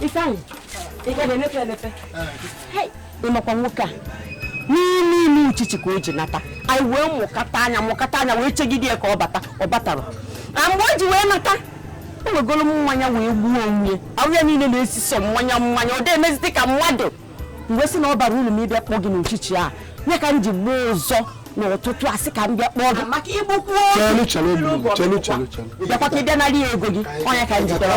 Ifeanyị, ị ga na-emepe emepe. Ị makwa nwoke a n'ime ime uchichi ka o ji nata anyị wee mụkata anya mụkata anya wee chegide ya ka ọ bata ọ batara na mgbe o ji wee nata o wegoro mmanya wee gbuo onwe ya ahụ ya niile na-esi sọ mmanya mmanya ọ dị emezite ka mmadụ m wee sị na ọ barọ uru mụ ịbịa kpọọ gị n'uchichi ọ nya ka m ji buo ụzọ n'ụtụtụ a sị ka m bịa kpọọ gị maka igbukwu oge bịakwa ka ị bịa narị ya ego gị ọ nya ka m ji bịara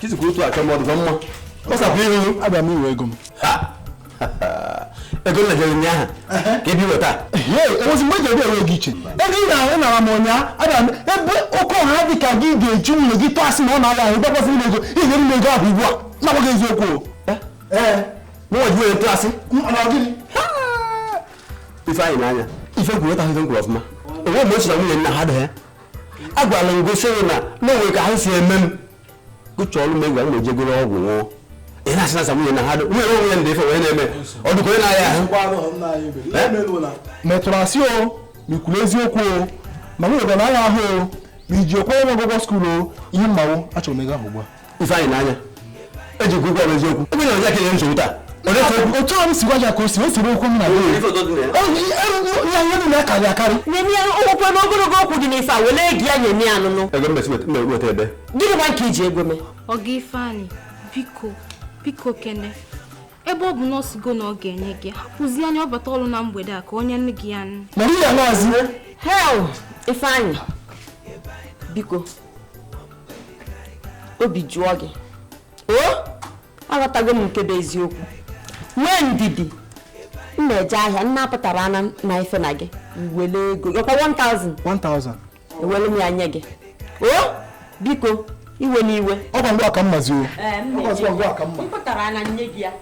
kizikwa otu achọ mmadụ gwa m ma kpọsapụ ihu abịa m iwe ego m ego na jere ụnyaahụ ka ebi weta ozi mgbe jere enwe gị iche ego ị na-ahụ nara m ụnyaahụ abịa m ebe oke ọha dị ka gị ga-eji nwunye gị tụọ asị na ọ na-aya ahụ gbakwasị m ego ị ga-enye m ego ahụ ugbu a na-agbaghị eziokwu o ee mụnwa ji were tụọ asị ifeanyị n'anya ife kwuru ịta ahụhụ kwuru ọfụma o nwe mgbe ọ sị na nwunye nna ha dị ha agwara m gị sị na o nwe ka ahụ si eme m gụcha ọrụ m egwa m na-ejegoro ọgwụ ṅụọ ị na-asị na nwunye na ha dị nwunye onwe ya ndị ife wee na-eme ọ dịkwa onye na-aya ahụ ma ị tụrụ asị o ma i kwuru eziokwu o ma nwunye gị ọ na-aya ahụ o ma i ji akwụ ụgwọ skuulu o ihe m ma wụ achọrọ m ego ahụ ugbu a ifeanyị n'anya eji gị ụgwọ eziokwu ebe na ọja kenye nsogbu taa otu ọrụ si gwa ya ka o si o siri okwu m na ihe niile akarị akarị nyemi ya ụkwụ n'ogologo okwu dị n'ife a wele egi ya nyemi ya anụnụ ego mmesi weta ebe gịnị gwa nke i ji ego mee ọga ifeanyị biko biko kene ebe ọ bụ na ọ sịgo na ọ ga-enye gị hapụzi anya ọ bata ọrụ na mgbede a ka o nye gị ya nụ hel ifeanyị biko obi jụọ gị o aghọtago m nke bụ eziokwu nwee ndidi m na-eje ahịa m na-apụtara ana na ife na gị nwere ego ọkwa 1000 1000 ewere m ya nye gị o biko iwe n'iwe ọ ngwa ngwa ka mma zuo ọ ngwa ngwa ka m na-apụtara ana nye gị ya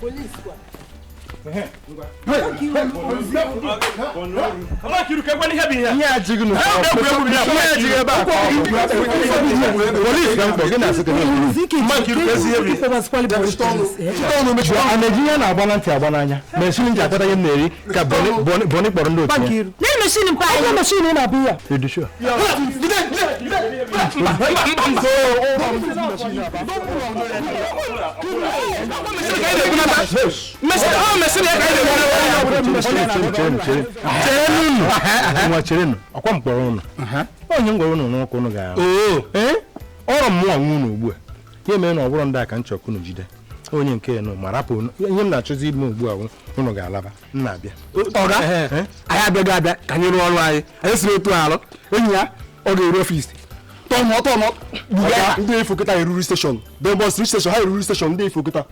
Police kwa. ihe ajighị na a na-eji ihe na-agba na ntị agba n'anya ma esiri m ji akpata ihe m na-eri ka bọni kpọrọ ndị otu ya nne meshin mpa anyị nne meshin ị na-abịa ya ị dị sure nwa cherenụ ọ kwa m kpọrọ ụnụ onye m gwara ụnụ n'ụka ụnụ ga-ahụ ọrụ mmụọ nwa ụnụ ugbu a ihe mere na ọ bụrụ ndị a ka m chọrọ ka unu jide onye nke unu ma rapụ unu ihe m na-achọzi ime ugbu a wụ, unu ga-alaba m na-abịa ọga Ehe, ehe. anyị abịaghị abịa ka anyị rụọ ọrụ anyị anyị siri otu alụ enyi ya ọ ga-eru ọfisi tọnụ ọtọnụ Ọga, ndị ifo kịta eruru steshọn debọs steshọn ha eruru steshọn ndị ifo kịta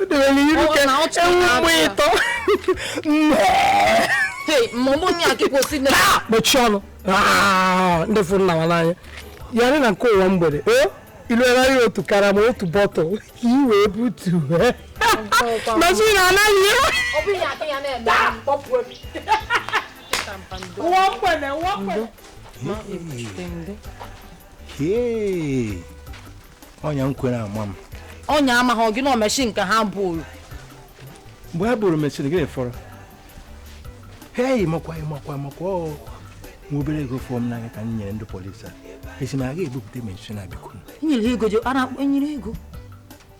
o dewere iru ka ewu mgbe ịtọ mechie ọnụ ndị fụrụ na n'anya ya na nke ụwa mgbede iluegharị otu karama otu bọtụl ka i wee butu machine anaghị ụwa mgbede ụwa mgbede onye m kwere ama m onye amaghị gị na meshin nke ha buru mgbe ha buru meshin gịnị fọrọ ha eyi makwa makwa makwa nwa obere ego fọọ m n'anya ka m nyere ndị polisi a esi m a ga-ebupụta meshin a biko nyere ego ji ara akpọ nyere ego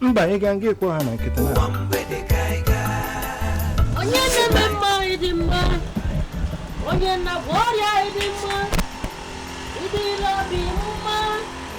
mba ị gaa nga ị kpọọ ha na nkịta na onye na-eme mma ị dị mma onye na-agwọ ọrịa ị dị mma ị dịla obi mma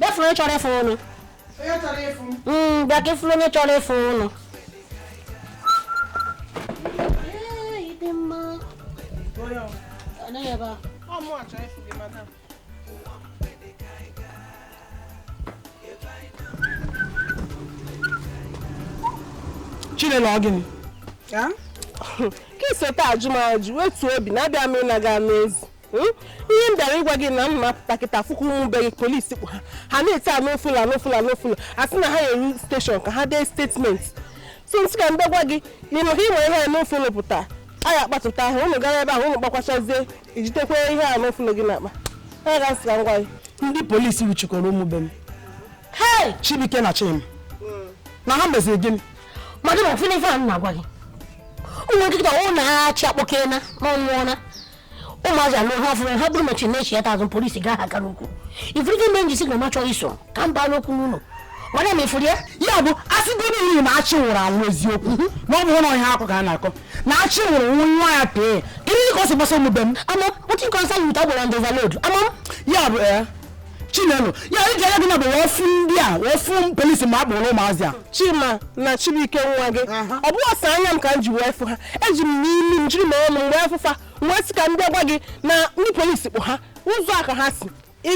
bịa fụrụ onye chọrọ ịfụ ụnụ hmm, bịa ka ị fụrụ onye chọrọ ịfụ ụnụ chinelo ọ gịnị ka i so taa ajụ m ajụ wetuo obi na-abịa m ị na-aga n'ezi Hmm? ihe m bịara ịgwa gị na m na-apụta kịta afụ ka ụmụ be gị polisi kpụ ha ha na-eti unlawful unlawful unlawful a sị na ha na-eru steshọn ka ha dee statement so m sị ka m gwa gị na ị ma ka ị ma ihe unlawful pụta a ya akpatụta ahụ ụnụ gara ebe ahụ ụnụ kpakwachazie ijitekwa ihe unlawful gị n'akpa ha ga m sị ka m gwa gị ndị polisi wuchikwara ụmụ be m chibuike na chima hmm. na ha meziri gịnị ma gị na ofele ife a na-agwa gị ụmụ nkịta ọ na achị akpọkena na ọ nwụọna ụmụazị ahụ ha fụrụ ha buru meshin na-echi ya tazụ polisi gaa ha gara ukwu ị fụrụ ife mee m ji sị na m achọrọ iso ka m baa n'okwu n'ụlọ were ma ị fụrụ ya ya bụ asịgo niile na achị nwụrụ anwụ eziokwu na ọ bụrụ na ọhịa akụkọ a na-akọ na achị nwụrụ anwụ nwa ya pee kedu ihe ka o si gbasa omume m ama wetin concern you with agbero and overload ama m ya bụ ee chinelo ya iji anya gị na bụ ofu ndị a ofu polisi ma a kpọrọ ụmụazị a chima na chibuike nwa gị ọ bụghị sọsọ anya m ka m ji wee fụ ha eji m imi m jiri m ọnụ m wee fụ fa m wee sị ka m bịa gwa gị na ndị polisi kpụ ha ụzọ a ka ha si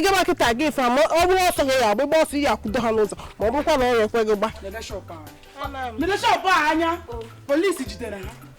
gaba kịta gị fa ma ọ bụrụ ọsọ gị ya agba ị gba ọsọ ị ya-akwụdo ha n'ụzọ ma ọ bụrụkwa na ọ ekwe gị gba Mede shọpụ a anya polisi jidere ha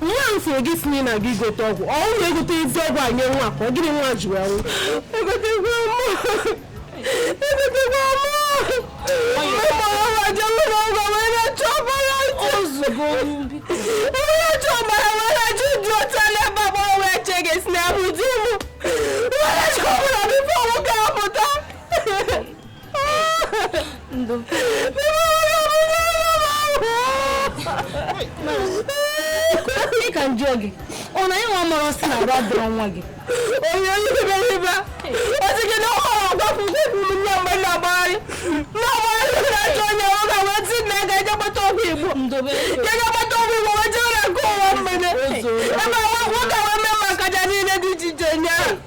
nwa m sịrị gị si na ị na-aga igote ọgwụ ọ ụlọ egote ezi ọgwụ a nye nwa ka ọ gịnị nwa ji wee nwụ egotekwa mụ egotekwa mụ ozugbo onye ọchọ ọbara wee na-achọ ụdị ọcha n'ebe agbọrọ wee che gị si n'ahụ di m wee na-achọ ọbara bifo nwoke ahụ Ndụ. Ị ka njọ gị ọ na ịnwa mọrọ si na agwa dọrọ nwa gị onye onye iberibe ọchịchị na ọhụrụ ọgbakwụkwọ kwuru nne mgbe na-agbagharị na-agbagharị na-achọ onye ọ ga wee ti na ga ejegbata ọgwụ igbo ndobe ga ejegbata ọgwụ igbo wee jee na nke ụwa mgbede ebe nwoke wee mee maka ja niile dị iche iche nye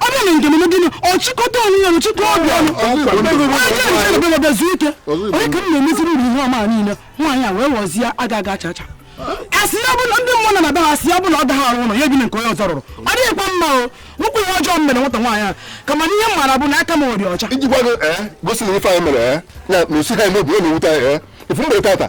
ọ bụrụ na njem m gịnị ọ chịkọta onwe ya chịkọ obi ọnụ bịa zuo ike onye ka m na-emeziri uru ihe ọma niile nwaanyị a wee ghọzie aga aga acha acha asị ya bụla ndị mmụọ na-aba ha asị ya bụla ọ daghị arụ ụlọ ya ebi na nke onye ọzọ rụrụ ọ dịghịkwa mma o nwekwa ihe ọjọọ mere nwata nwaanyị a kama na ihe m maara bụ na aka m dị ọcha ijikwa gosi na ife anyị mere ya na osi ha eme obi ọ na-ewute anyị ifu mgbe tata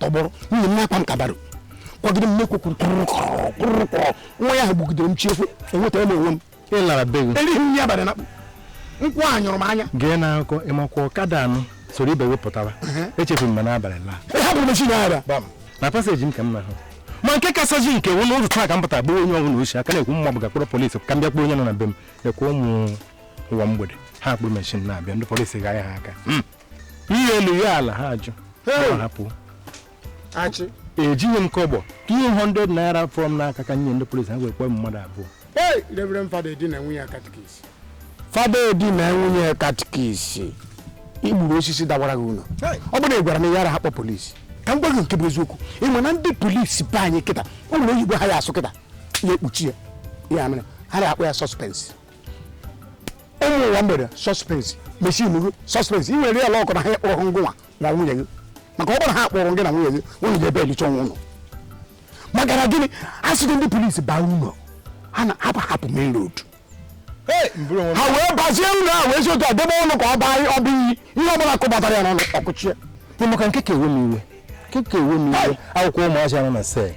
tọgbọrọ nwunye m na-akwa m kabara kwagide m n'ekwe kwuru kwụrụ kwụrụ kwụrụ nwa ya ahụ gbugidere m chiekwe enwetara m onwe m ị lara be gị erighị m ihe abalị na nkwụ a nyụrụ m anya gee na akụkọ ị makwa ọkada anụ soro ibe wepụtara echefuru m ma n'abalị laa ị hapụrụ meshin a ara na paseji m ka m na-ahụ ma nke kasazi nke wụ n'ụzọ taa ka m pụta gbuo onye ọbụla ochi aka na-ekwu mma bụ gaa kpọrọ polisi ka m bịa kpọọ onye nọ na be m ekwe ụmụ ụwa mgbede ha kpụrụ meshin na-abịa ndị polisi ga ya ha aka ihe elu ya ala ha ajụ Hey! ha hapụ achị ejighị m kọbọ 200 naira fọrọ m n'aka ka m nye ndị polisi ha wee kpọọ m mmadụ abụọ hey reverend fada edi na nwunye katikis fada edi na nwunye katikis i gburu osisi dawara gị ụlọ ọ bụrụ na ị gwara m yaraha akpọ polisi ka m gwa gị nke bụ eziokwu ị ma na ndị polisi be anyị kịta o nwere oyibo ha ya-asụ kịta ya ekpuchi ya ya mere ha na-akpọ ya sọspensị ụmụ ụwa mgbede sọspens mesi ilu sọspens ị nwere ya luck na ha akpọrọ ngịnwa na nwunye gị maka ọ bụrụ ha kpọrọ gị na nwunye gị nwunye gị ebe elicha ọnwụ ụlọ maka na gịnị a sịgo ndị polisi baa ụlọ ha na hapụ hapụ main road ha wee bazie ụlọ a wee zi otu a debe ọnụ ka ọ baa ọ bụ iyi ihe ọ bụla kụbatara ya n'ọnụ ọkụchie ịmaka nke ka ewe m iwe nke ka ewe m iwe akwụkwọ ụmụazị anọ na cell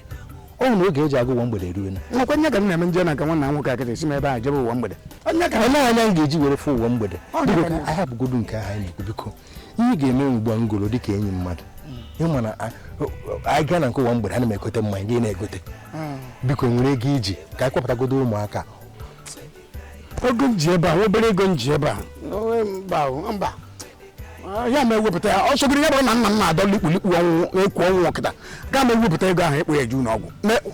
ọ na oge eji aga ụwa mgbede eruo na nwekwa nye ka m na-eme nje na nke nwanna nwoke akịta esi m ebe a jebe ụwa mgbede onye ka onye anya m ga-eji were fụ ụwa mgbede Ọ dị biko mma. ka anyị abụgodu nke ahụ anyị na-ekwu biko ihe ga-eme ugbu a ngoro dị ka enyi mmadụ ịma na a- o- o- anyị gaa na nke ụwa mgbede ana m egote mmanya gị na-egote biko i nwere ego i ji ka anyị kpọpụtagodo ụmụaka ego m ji ebe a obere ego m ji ebe a mba mba ama m ewepụta ya ọ sọgodo ya bụrụ na nna m na-adọ likpulikpu ọnwụ ekwu ọnwụ kịta ama m ewepụta ego ahụ ekpo ya ju n'ọgwụ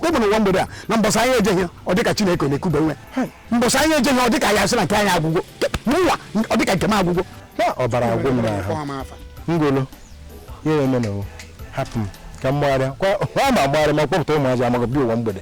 ebe na ụwa mgbede a na mbọsị anyị ejeghị ọ dịka Chineke na-ekube nwe mbọsị anyị ejeghị ọ dịka ya sị na nke anyị agwụgo n'ụwa ọ dịka nke m agwụgo ọbara agwụ m n'ahụ ngolo ya eme na hapụ m ka m gbagharịa kwa ma gbagharịa ma kpọpụta ụmụazị amaghị bi ụwa mgbede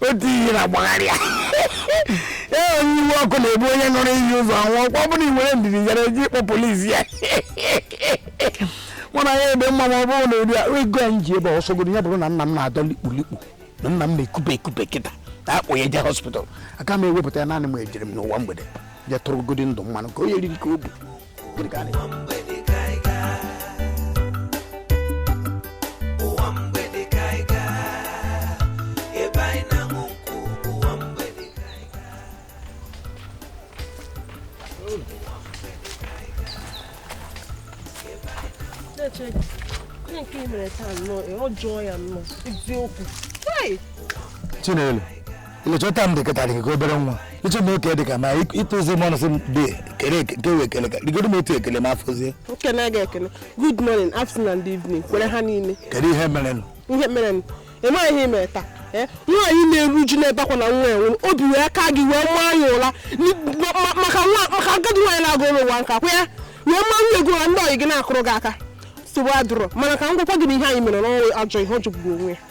otu ihe na-agbagharị ya ee onye iwe ọkụ na-ebu onye ṅụrụ iyi ụzọ anwụ kwa ọ bụrụ i were ndidi hara ije ịkpọ polisi ya mụ na ya ebe mma ma ọ bụrụ na obere ego anyị ji ebe ọ sọgodo ya bụrụ na nna m na-adọ likpu likpu na nna m na-ekube ekube kịta na a kpọ ya je hospital aka m ewepụta ya naanị m ejere m n'ụwa mgbede je tụrụ godi ndụ mmanụ ka o yeriri ka o bu Gịnị ka a na-eme? Onye nke i mere taa nnọọ, ọ jụọ ya nnọọ, eziokwu. Hey! Chinelo ilechọta m dịkọtara gị ka obere nwa lecha m oke dịka ma ịtụzi m ọnụ sị m dị kere nke wee kele ka rigodo m otu ekele ma afọzie nkene gị ekele good morning afternoon and evening were ha niile kedu ihe mere nụ ihe mere nụ ịmaghị ihe mere taa eh, nwaanyị na-eru uju n'ebe akwa na nwa i nwere obi were aka gị wee maa ya ụra maka agadi nwaanyị na-agụ ụlọ ụwa nka kwa ya wee maa nwa ego ụra ndị ọyị gị na-akụrụ gị aka nsogbu adụrọ mana ka m gwakwa gị na ihe a i mere nụnwa ajọ ihe ọ jọgburu onwe ya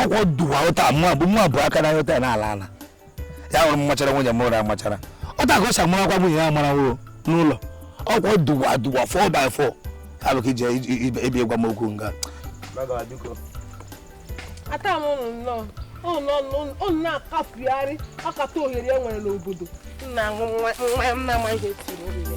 okwu duwa ụta mụ abụ mụ abụ aka na ụta na ala ala ya hụrụ mmachara nwunye m ụra amachara otu a ka ọ si amara akwa nwunye ya amara nwụrụ n'ụlọ okwu duwa duwa four by four abụ ka ije ebi gwa m okwu nga ata m ụnụ nnọọ ụnụ na-akapụgharị akata ohere e nwere n'obodo nna aṅụ mmanya m na-amaghị etiri ohere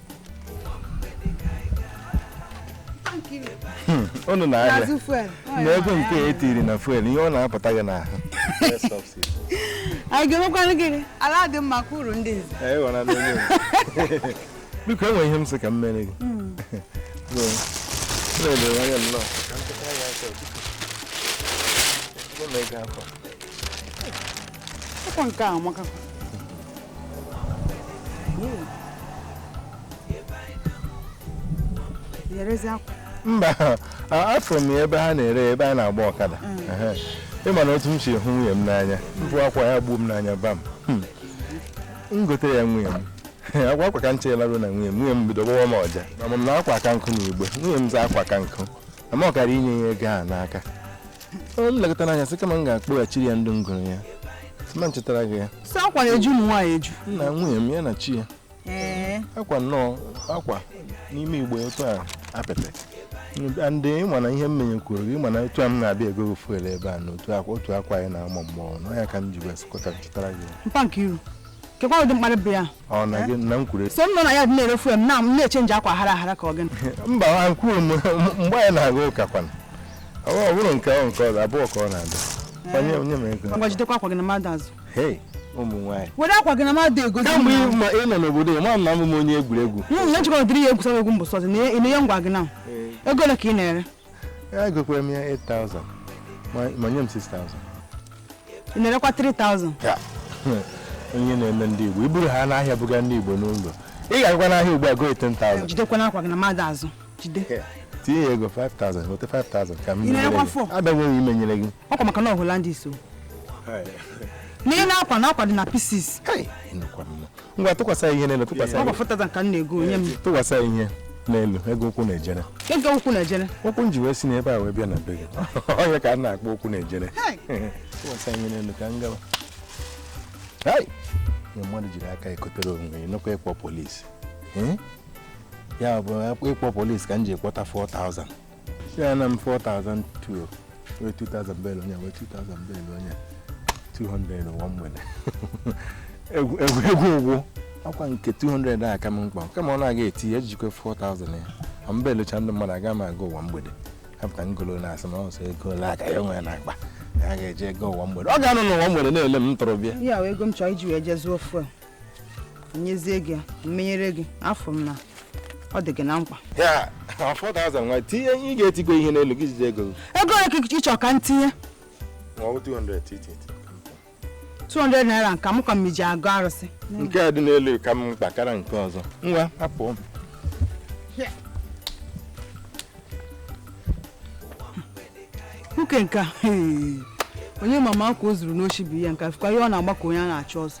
Hmm, unu na ahịa na ego nke e tiri na fuel ihe ọ na-apụta gị n'ahụ anyị ga-emekwanụ gịnị ala adị mma ka uru ndị nze biko o nwe ihe m sị ka m mere gị hmm. ọkwa nke a amaka yerezi akwa mba a- afụrụ m ya ebe ha na-ere ya, ebe m na-agba ọkada Ehe. ị ma na otu m si hụ nwunye m n'anya bụ akwa ya gbuo m n'anya bam Hmm. m gotere ya nwunye m akwa akwa ka m cheela ruo na nwunye m nwunye m bido gbawa m ọja ama m na akwa ka nka n'igbe nwunye m za akwa ka nka ama ọ kara inye ya ego a n'aka Ọ m lekatara anya sị kama m ga-akpọghachiri ya ndị m goro ya sị ma m chịtara gị ya sị akwa ya eju ụmụ nwaanyị eju nna nwunye m ya na chi ya ee akwa nnọọ akwa n'ime igbe otu a apịtị ndị ịma na ihe m menye kwuru gị mana otu a m na-abịa ego gị fuel ebe a na otu akwa otu akwa anyị na-ama mmụọ na ya ka m ji wee sị ka m chịtara gị ya. mpa Nkiru kekwa ụdị mkparị bụ ya Ọ na gị na m kwuru so m nọ na ya dị na-ere fuel m na m na-eche nje akwa hara hara ka ọ gịnị mba ha kwuru m mgbe anyị na-aga ụka kwana ọ ọ bụrụ nke ọ nke ọzọ abụọ ka ọ na-adị onye onye mere ego ngwa jidekwa akwa gị na mmadụ azụ hei ụmụ nwaanyị were akwa gị na mmadụ egozi kamgbe ị ma- ị nọ n'obodo ya ma m na abụ m onye egwuregwu na njikọ dịrị ya egwusa egwu mbụsọzi na ihe ngwa gị na ego ole ka ị na-ere ya egokwara m ya 8000 ma ma nye m 6000 ị na-erekwa 3000 Ya. onye na-eme ndị igbo iburu ha n'ahịa buga ndị igbo n'ụlọ ị ga-agakwa n'ahịa ugbu a go 10000 jidekwa n'akwa gị na mmadụ azụ jide tinye ya ego 5000 weta 5000 ka m Ị na-erekwa nyere gị. four? abịaghị m imenyere gị ọkwa maka na ọhụla ndị so na ị na-akwa na akwa dị na pieces Kai, ị nụkwa m. ngwa tụkwasị ya ihe n'elu tụkwasị ya ọ ihe. gbafụtaza nka m na-ego onye m tụkwasị ya ihe n'elu ego ụkwụ na-ejere ego ụkwụ na-ejere ụkwụ m ji wee si n'ebe a wee bịa na be gị onye ka a na-akpọ ụkwụ na-ejere tụkwasị ya ihe n'elu ka m gawa Hai! Ihe mmadụ jiri aka ekotere onwe ya nụkwa ịkpọ polisi Eh? ya bụ ịkpọ polisi ka m ji kpọta 4000 si ya na m 4002 wee 2000 bel onye wee 2000 bel onye 200 ụwa mgbede egwu egwu egwu ụgwụ akwa nke 200 a ka m mkpa kama ọ na-aga eti ya ejikwa 4000 ya ma mba elocha ndị mmadụ aga m aga ụwa mgbede kapụta ngolo na-asị na ọsọ ego ole ka ya nwere n'akpa ya ga-eje ego ụwa mgbede ọ ga-anọ n'ụwa mgbede na-ele m ntorobịa ihe a wee ego m chọọ iji wee jee zụọ fuel nyezie gị ya m menyere gị afụ m na ọ dị gị na mkpa ya 4000 nwa tinye ị ga-etigo ihe n'elu gị jide ego gị ego ole ka ị chọrọ ka m tinye ma ọ bụ 200 titi 200 naira nke m ka m ji agọ arụsị nke a dị n'elu ka m mkpa karịa nke ọzọ nwa hapụ m nwoke nke a onye ma ma akwa o zuru n'oshi bụ ihe nke a fụkwa ihe ọ na-agba ka onye a na-achụ ọsọ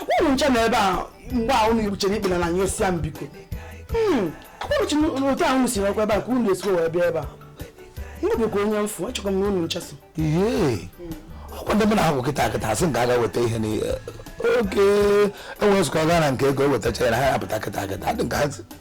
akwụrụ nche na ebe a mgbe a unu igbuchere ikpe na anyị osia m biko hmm, akwụrụchi otu ahụ unu si nọkwa ebe a ka unu esiwe wee bịa ebe a ndebekwa onye mfu achọkwa m na unu nchesị ihe ọkwa ndị mụ na ha bụ kịta kịta asị nke aga weta ihe na oke enwere nzukọ gaa na nke ego ewetacha ya na ha apụta kịta kịta adị nke ha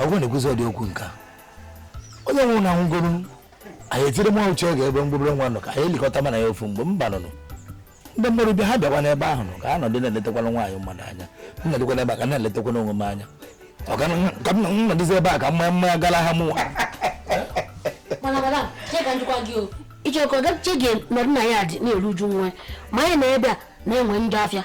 ọ ga na-ekwuzi ụdị okwu nke a onye nwụrụ na nwụgoro anyị etiri nwa uche oge ebe mgbobere nwa nọ ka anyị elikọta mana ya ofu mgbe mba nụnụ ndị mmadụ bịa ha bịakwa n'ebe ahụ ka ha nọdụ na-eletakwana nwaanyị mmadụ anya m nọdụkwa n'ebe a ka na-eletakwana onwe m anya ka m nọdụzi ebe a ka mmanya mmanya gara ha mụnwa ichekọ gache gị nọdụ na ya dị na-eru uju nwa ma anyị na ebe a na-enwe ndị afịa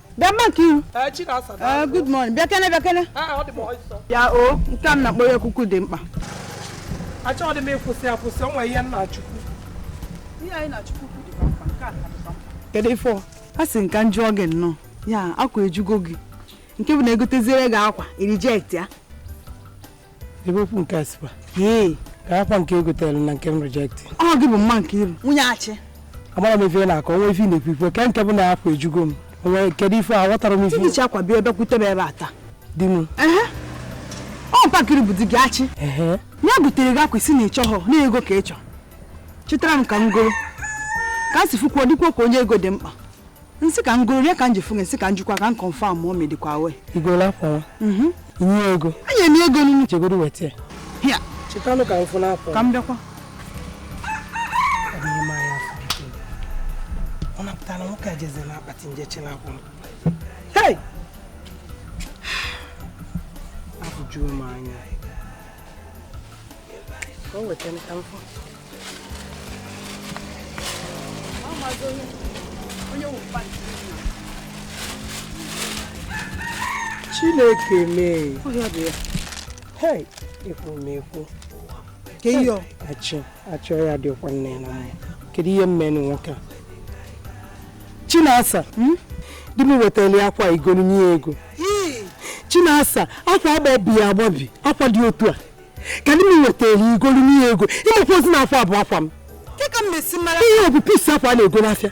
bịa maka ihu eh, good morning bịakene bịakene ah, ya o oh, nke a m na-akpọ ya ekuku dị mkpa achọghị m ịkwụsị akwụsị onwe ihe m na-achụkwu ihe a ị na-achụkwu dịkwa mkpa nke a dịkwa mkpa kedu ife ọ asị m ka m jụọ gị nnọọ ya akwa ejugo gị nke bụ na egoteziere gị akwa i reject ya ebe okwu nke a sikwa ee ka akwa nke o gotere na nke m reject ọ gị bụ mama nkiru nwunye achị amarọ m ife ị na-akọ onwe ife ị na-ekwu ikwu ke nke bụ na akwa ejugo m onwe kedu ife aghọtarọ m ife i ji chị akwa bịa ebe kwute m ebe a taa di m ehe ọ papa nkiru bụ di gị achị ehe ya butere gị akwa ị sị na ị chọhụ na ego ka ị chọ chịtara m ka m goro ka a si fukwuo dịkwuo ka onye ego dị mkpa m sị ka m goro ya ka m ji fụ gị m sị ka m jụkwa ka m confirm ma o medikwa we i goro akwa nwa mhm. nye ego enye m ego nunu jegoro weta ya chịtanụ ka m fụ n'akwa ka m bịakwa ọ napụtara nwoke a jeze na akpati m je chị n'akwa m afụjuo m anya ka o weta ka m fụ chineke m ee hei ekwu m ekwu achọ achọ ya dịkwa nne na mma kedu ihe m menụ nwoke a chinasa hmm? di m wetara ya akwa i golu nye ego chinasa akwa agbabi agbabi akwa dị otu a ka di m wetara i golu nye ego ịmakwa ozi na afọ abụ akwa m ihe ọ bụ piece akwa a na-ego n'afịa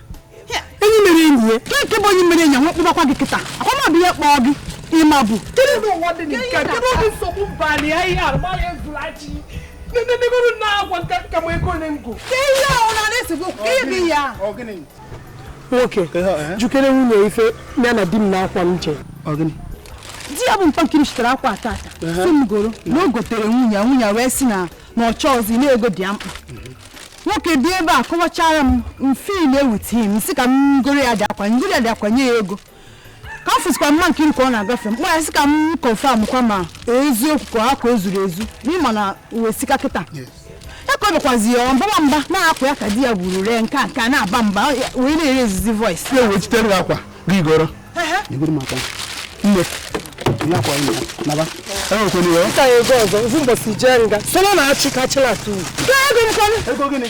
enyi mere enyi ya ka nke bụ onye mere enyi nwe kpụbakwa gị kịta akwa m abụ ihe kpọọ gị ịma bụ nenenegoro na akwa nke a kama ego ne ngo. Ke ihe a ọ na-esi bụ ka ị bụ ya. nwoke eh? jukere nwunye ife ya na di m na akwa m je di ya bụ mkpọnkiri chitere akwa taata eh? si m goro na o gotere nwunye nwunye wee si na na ọ chọọzi na ego dị ya mkpa nwoke dị ebe a kọwachara m ife na-ewute m si ka m goro ya dị akwa m goro ya dị akwa nye ya ego ka m fụsikwa mma nke ka ọ na-agafe m kpọrọ sị ka m confirm kwa ma eziokwu ka akwa e zuru ezu na ị ma na ụwa esika kịta ekọbekwazi ya ọ mbawa mba na akwa ya ka di ya buru ree nke a nke a na-aba mba wee na-ere ezizi voice ya wee chitere gị akwa gị goro i goro m akwa nne ihe akwa ime naba enwekwene ya Ka ego ọzọ, ofu mbọsi jee nga. Solo na-achị ka achịla atụ. ego gịnị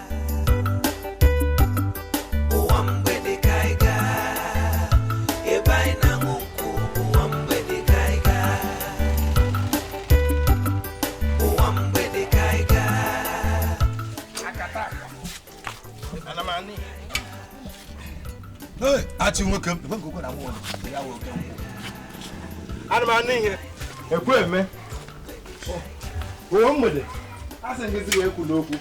achị nwoke m ana m anụ ihe ekwe eme ụwa mgbede a sị gị zigbo ekwu n'okwu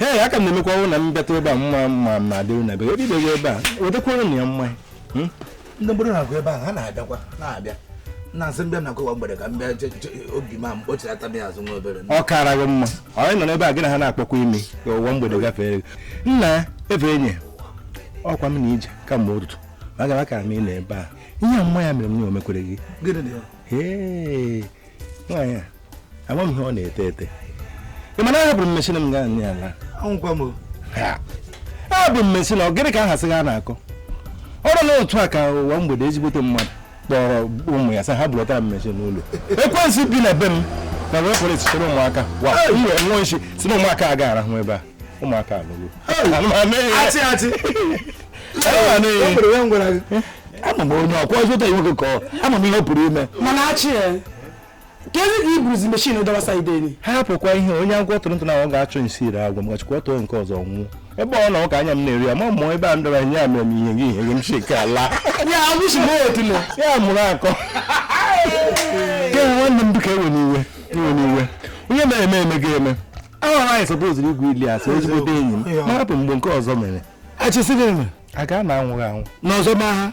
ee aka m na-emekwa ọrụ na m bịata ebe a mma ma m na-adịrị na bere ebibeghị ebe a wetakwanụ na ya mmanya hmm? ndị mmadụ na-agụ ebe a ha na-abịakwa na-abịa na-asị m bịa na ka ụwa mgbede ka m bịa obi ma m kpọchirata m ya azụ nwa obere ọ kara gị mma anyị nọ n'ebe a gị na ha na-akpọkwa ime ka ụwa mgbede gafere gị nna ebe enyi ọkwa m na-eje kamgbe ụtụtụ ma gara ka m ị na ebe a ihe mma ya mere m na omekwere gị nwaanyị a ama m ihe ọ na-ete ete ị mana ahapụrụ m mechina m gaa nye ya laa anwụkwa m Ha! abụ m mesi na gịnị ka ha sị ha na-akọ ọrụ na otu a ka ụwa mgbede ezigbote mmadụ kpọrọ ụmụ ya sị ha bulatara m meshin n'ụlọ ekwensu bi na be m na wee pụrụ echitere ụmụaka wa iwe nwa nshi si na ụmụaka a ga-arahụ ebe a ụmụaka alụgo achị achị o nwere onye m gwara gị ama m onye ọkwa ọzọ ụta nwoke ka ọ ama m ihe ọ pụrụ ime mana achị ya kedu ka i buruzi meshin dọwa side nị ha hapụkwa ihe onye agwọ tụrụ ntụ na ọ ga-achọ nsi ire agwọ m gachikwa tụọ nke ọzọ nwụọ ebe ọ na ụka anya m na-eri ya ma mụọ ebe a ndọrọ ihe a mere m ihe gị ihe gị m si ka ala ya abụchi m otule ya mụrụ akọ ke nwanne m bụka ewe n'iwe iwe n'iwe onye mere eme eme gị eme ahụ anyị supposiri igwu ili asị ezigbote enyi m ma hapụ mgbe nke ọzọ mere achị sị gị mere a ga na anwụghị anwụ n'ọzọ ma ha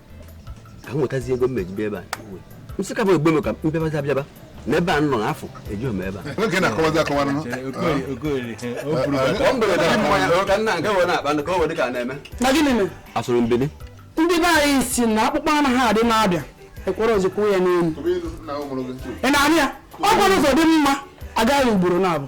ewetazi ego m mejibe ebe a m sị ka bụ egbe m ka mbebazi abịaba na ebe a nọ n'afọ eji m ebe a nwoke na-akọwazi akọwa nụ na gịnị mere asụrụ mbili ndị be anyị si na akpụkpọ anụ ha adị na-abịa ekwere ozikwa ya n'elu ị na-anụ ya ọ kwa ụzọ dị mma a gaa ya ugboro naabọ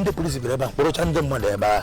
ndị polisi bịara ebe a kpọrọcha ndị mmadụ ebe a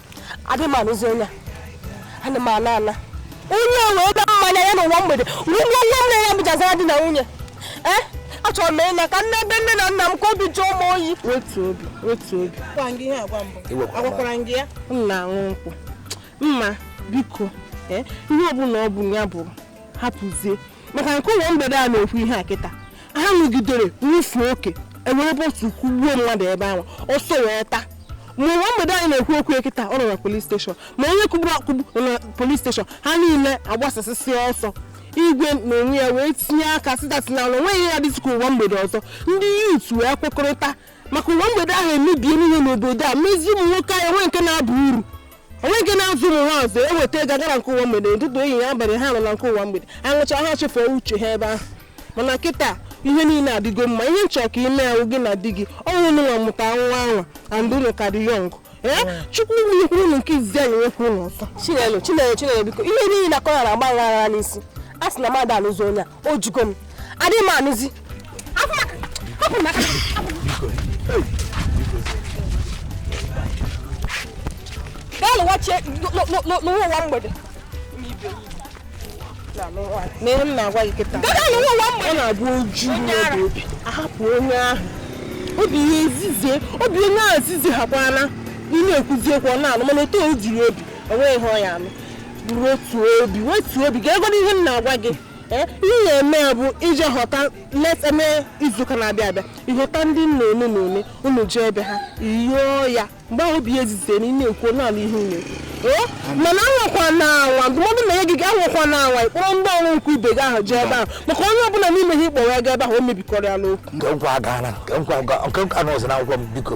adị m anụzi onye a ana m ana ana onye a wee bịa mmanya ya n'ụwa mgbede nwunye nwa m na ya bịa zara di na nwunye ee eh? achọrọ m ịna ka m naa ebe nne na nna m ka obi jụọ m oyi wetu obi wetu obi agwakwara gị ya m na-aṅụ nkwụ mma biko eh? ihe ọbụla ọ bụ ya bụrụ hapụzie maka nke ụwa mgbede a na-ekwu ihe a kịta ha ṅụgidere ṅụfee oke e were bọtụ kugbuo mmadụ ebe ahụ ọsọ wee taa ma ụwa mgbede anyị na-ekwu okwu ya kịta ọ nọ na polis steshọn ma onye kugburu akugbu nọ na polis steshọn ha niile agbasasịsị ọsọ igwe n'onwe ya wee tinye aka sị taata na o nweghị ihe dịtụ ka ụwa mgbede ọzọ ndị yut wee kwekọrịta maka ụwa mgbede ahụ emebiena ihe n'obodo a mezie ụmụ nwoke anyị nwee nke na-aba uru o nwe nke na-azụ ụmụ ha ọzọ e weta ego a gara nke ụwa mgbede ụtụtụ ehihie abalị ha nọ na nke ụwa mgbede aṅụcha ha chefuo uche ha ebe ahụ mana kịta ihe niile adịgo mma ihe m chọ ka i mee ahụ gị na di gị ọnwụ unu nwa mụta nwa anwa and unu ka dị yọng ee chukwu nyekwuru unu nke izizi ya-enyekwuru unu ọzọ chinelo chinelo chinelo biko ihe niile a kọrọ na-agba aghara n'isi asị m na m adị anụzi onye a o jugo m adịghị m anụzi gaa lụwazie ụwa ụwa mgbede mere m na-agwa gị kịta ọ na-abụ o ju n'obi a bịa hapụ onye ahụ obi ya ezizie obi onye ahụ ezizie ha kwa na ị na-ekwuzi ekwu ọ na-anụ mana otu o jiri obi enweghị ihe ọ ya-anụ wetu obi wetu obi ga-ege ihe m na-agwa gị eh, ihe na-eme ya bụ i jee họta leta mee izuụka na-abịa abịa ị họta ndị nna one na one unu jee ebe ha yọọ ya mgbe ahụ obi ya ezizie na ị na-ekwu ọ na-anụ ihe unu eh, mana anwakwana anwa ndụmọdụ na ya gị gị anwakwana anwa ịkpọrọ ndị ọrụ nkwa ibe gị ahụ jee ebe ahụ maka onye ọbụla n'ime ha ị kpọrọ ya gaa ebe ahụ o mebikọrọ ya n'okwu nke nkwa agaala nke nkwa ọzọ na akwụkwọ m biko